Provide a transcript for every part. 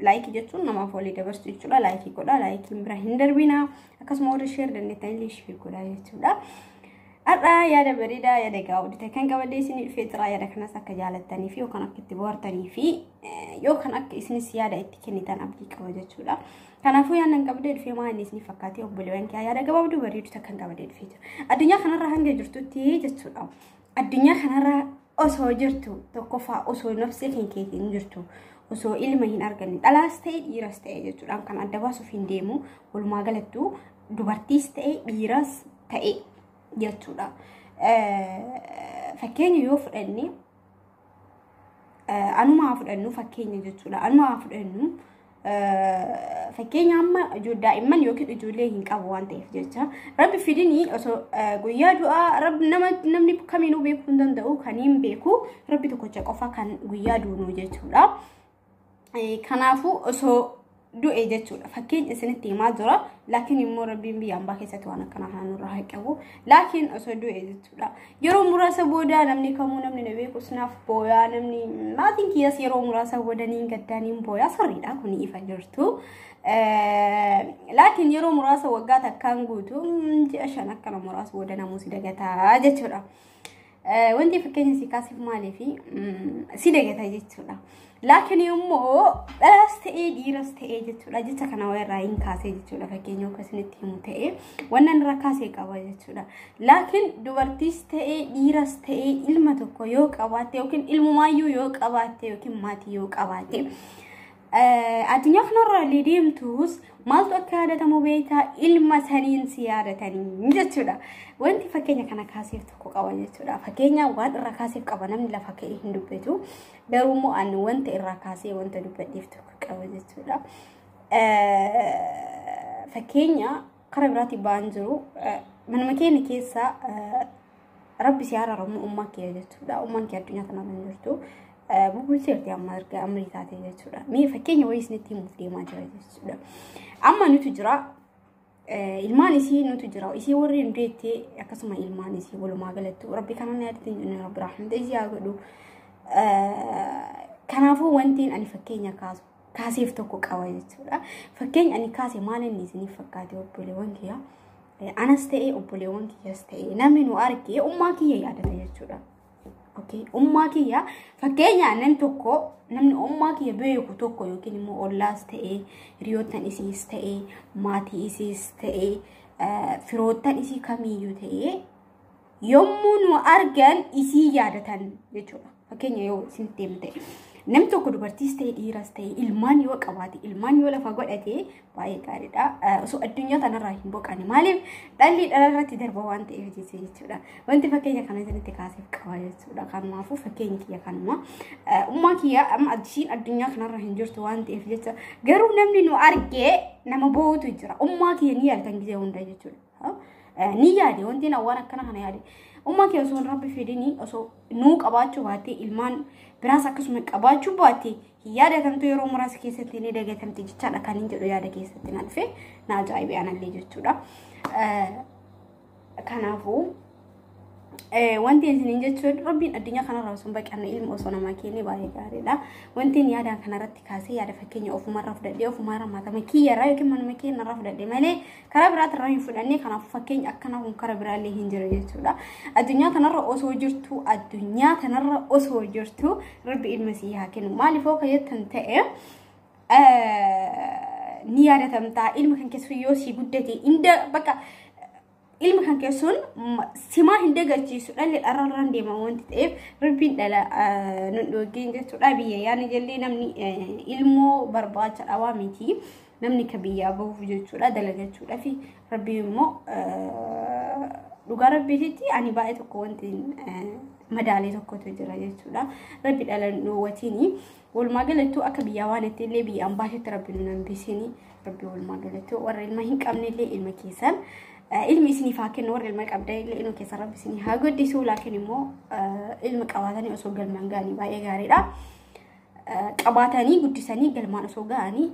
laayikii jechuun namaaf walii dabarsu jechuudha. Laayikii godhaa laayikiin bira hin darbina. Akkasuma warri sheer dandeettan illee sheer godhaa jechuudha. Har'aa yaada bareedaa yaada egaa hojjete kan qabadee isin dhufee jira yaada kanas akka jaalattanii fi yookaan akka itti bohaartanii fi yookaan akka isinis yaada itti kennitan abdii qaba jechuudha. Kanaafuu yaadnan qabdee dhufee maa inni isin fakkaatee obboleewwan kee yaada gabaabduu bareedu takkan qabadee dhufee jira. Addunyaa kanarra hanga jirtutti jechuudha. Addunyaa kanarra osoo jirtu tokkoffaa osoo nafsee kan keetiin hin jirtu osoo ilma hin arganne dhalaas ta'e dhiiras ta'e jechuudhaan kan adda baasuuf hin deemu walumaa galattuu dubartiis ta'e dhiiras ta'e jechuudha. Fakkeenya yoo fudhanne Anumaa fudhannu fakkeenya jechuudha. Anumaa fudhannu fakkeenya amma daa'imman yookiin ijoollee hin qabu waan ta'eef jecha rabbi fidini osoo guyyaa du'aa rabbi nama namni kamiinuu beekuu hin danda'u kan hin beeku rabbi tokkocha qofa kan guyyaa duunuu jechuudha. Kanaafuu osoo du'e jechuudha. Fakkeenya isinitti himaa jira. Laakiin immoo rabbiin biyya ambaa keessatti waan akkanaa kana nurraa haa qabu. Laakiin osoo du'e jechuudha. Yeroo muraasa booda namni kamuu namni na beekus naaf booyaa namni maatiin kiyyas yeroo muraasa booda niin gaddaa niin booyaa sirriidha kun ifa jirtu. Laakiin yeroo muraasa waggaa takkaan guutu ji'a shan akkana muraasa booda namuu si dagataa jechuudha. Wanti fakkeenya si kaasiif maaliif si dagata jechuudha. Laakiin immoo dhalas ta'ee dhiiras ta'ee jechuudha jecha kana irraa hin kaasee jechuudha fakkeenya akka isinitti himu ta'ee wanna irraa kaasee qaba jechuudha. Laakiin dubartiis ta'ee dhiiras ta'ee ilma tokko yoo qabaatte yookiin ilmumaayyuu yoo qabaatte yookiin maatii yoo qabaatte Addunyaa kanarra illee deemtus maaltu akka yaadatamu beektaa ilma saniin si yaadatanii jechuudha. Wanti fakkeenya kana kaaseef tokko qaba jechuudha. Fakkeenya waan irraa kaaseef qaba namni lafa ka'ee hin dubbatu. Garuu immoo ani wanta irraa kaasee wanta dubbadheef tokko qaba jechuudha. Fakkeenya Kara biraatiin ba'an jiru. Manuma keenya keessa rabbi si haaraaramu ummaa kee jechuudha. Ummaan kee addunyaa kanarra hin jirtu. Bubbulteerti amma erga amrii taate jechuudha. Mee fakkeenya wayii isinitti himuuf deemaa jira jechuudha. Amma nutu jira. Ilmaan isii nutu jira. Isii warri hin deettee akkasuma ilmaan isii walumaa galattu rabbi kanaan yaadatti hin jirne rabbi raaxamte isii haa godhu. Kanaafuu wantiin ani fakkeenya kaasu kaaseef tokko qaba jechuudha. Fakkeenya ani kaase maal inni isiniif fakkaate obboleewwan kiyya. Anas ta'ee obboleewwan kiyyas ta'ee namni nu argee ummaa kiyya yaadata jechuudha. Okay. Ummaa kiyya fakkeenya aannan tokko namni ummaa kiyya beeku tokko yookiin immoo ollaas ta'ee hiriyoottan isiis ta'ee maatii isiis ta'ee firoottan isii kamiyyuu ta'ee yommuu nu argan isii yaadatan jechuudha. Fakkeenya yoo isin deemte. Nam tokko dubartiis ta'e dhiiras ta'e ilmaan yoo qabaate ilmaan yoo lafa godhate baay'ee gaariidha. Osoo addunyaa kanarraa hin boqane maaliif dhalli dhalarratti darba waan ta'eef jecha jechuudha. Wanti fakkeenya kana isinitti kaasee qaba jechuudha. Kanumaafuu fakkeenyi kiyya kanuma. Ummaa kiyya amma ishiin addunyaa kanarra hin jirtu waan ta'eef jecha garuu namni nu argee nama boo'utu jira. Ummaa kiyya ni yaadatan gisee hunda jechuudha. ni yaade wanti na waan akkana kana yaade ummaa kee osoo rabbi fidini osoo nuu qabaachuu baattee ilmaan biraas akkasuma qabaachuu baattee hin yaadatamtu yeroo muraasa keessatti ni dagatamti jechaadha kan hin jedhu yaada keessatti na dhufe na ajaa'ibe anallee jechuudha kanaafuu Wanti isiniin jechuun rabbiin addunyaa kanarraa osoo hin baqanne ilma osoo namaa kennee baay'ee gaariidha. Wanti inni yaadaan kanarratti kaasee yaada fakkeenya ofumarraa fudhadhee ofumarraa maatama kiyyarraa yookiin manuma keenyarraa fudhadhee malee karaa biraatirraa hin fudhannee kanaaf fakkeenya akkanaa kun karaa biraallee hin jiru jechuudha. Addunyaa kanarra osoo jirtu addunyaa kanarra osoo jirtu rabbi ilma sii haa kennu. Maaliif hoo kayyattan ta'e ni yaadatamtaa ilma kan keessu yoo sii guddate inda bakka ilma kan kee sun simaa hin dagachiisu dhalli dhararraan deema wanti ta'eef rabbiin dhala nun dhoogeen jechuudha biyya yaani jallee namni ilmoo barbaacha dhawaa miti namni ka biyyaa bahuuf jechuudha dalagachuudha fi rabbii immoo dhugaa rabbiititti ani baay'ee tokko wanti madaalee tokkotu jira jechuudha rabbi dhala nun dhoowwatiini. Walumaa galattuu akka biyyaa waan itti illee biyya ambaatitti rabbi nu nambisinii rabbi walumaa galattuu warra ilma hin qabne illee ilma keessan ilmi isiniif haa kennu warra ilma qabdan illee ilma keessan rabbi isinii haa guddisuu laakiin immoo ilma qabaatanii osoo galmaan ga'anii baay'ee gaariidha. Qabaatanii guddisanii galmaan osoo ga'anii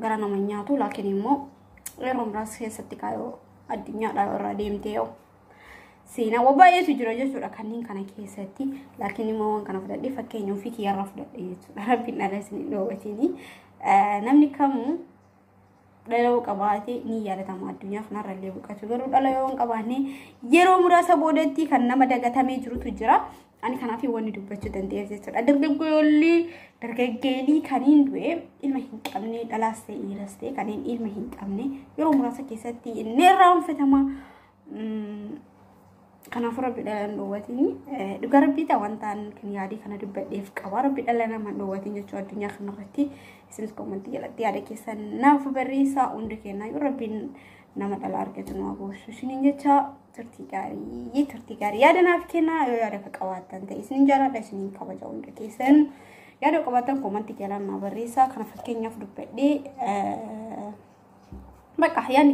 gara nama nyaatu laakiin immoo yeroo muraasa keessatti kaayoo addunyaadhaa irraa deemtee yoo Seenaawwan baay'eetu jira jechuudha kanneen kana keessatti laakiin immoo waan kana fudhadhee fakkeenya ofii kiyyarraa fudhadhee jechuudha rabbiin dhala isin hin dhoowwatini namni kamuu dhala yoo qabaate ni yaadatama addunyaa kanarra illee boqotu garuu dhala yoo hin qabaanne yeroo muraasa boodatti kan nama dagatamee jirutu jira ani kanaaf wanni dubbachuu danda'eef jechuudha dargaggoolli dargaggeelii kaniin du'e ilma hin qabne dhalaas ta'e dhiiras ta'e kaniin ilma hin qabne yeroo muraasa keessatti inni irraa hanfatama Kanaafuu rabbi dhala hin dhowwatiin dhugaa rabbii ta'a wantaan kan yaadii kana dubbadheef qaba rabbi dhala nama hin dhowwatiin jechuu addunyaa kana irratti isinis koomantii jalatti yaada keessan naaf barreessaa hundi kennaa yoo rabbiin nama dhala argatu nama goosuu isiniin jecha turtii gaarii turtii gaarii yaada naaf kennaa yoo yaada akka qabaattan ta'e isiniin jaalladha isiniin kabaja hundi keessan yaada qabaattan koomantii jalaan naa barreessaa kana fakkeenyaaf dubbadhee bakka yaadni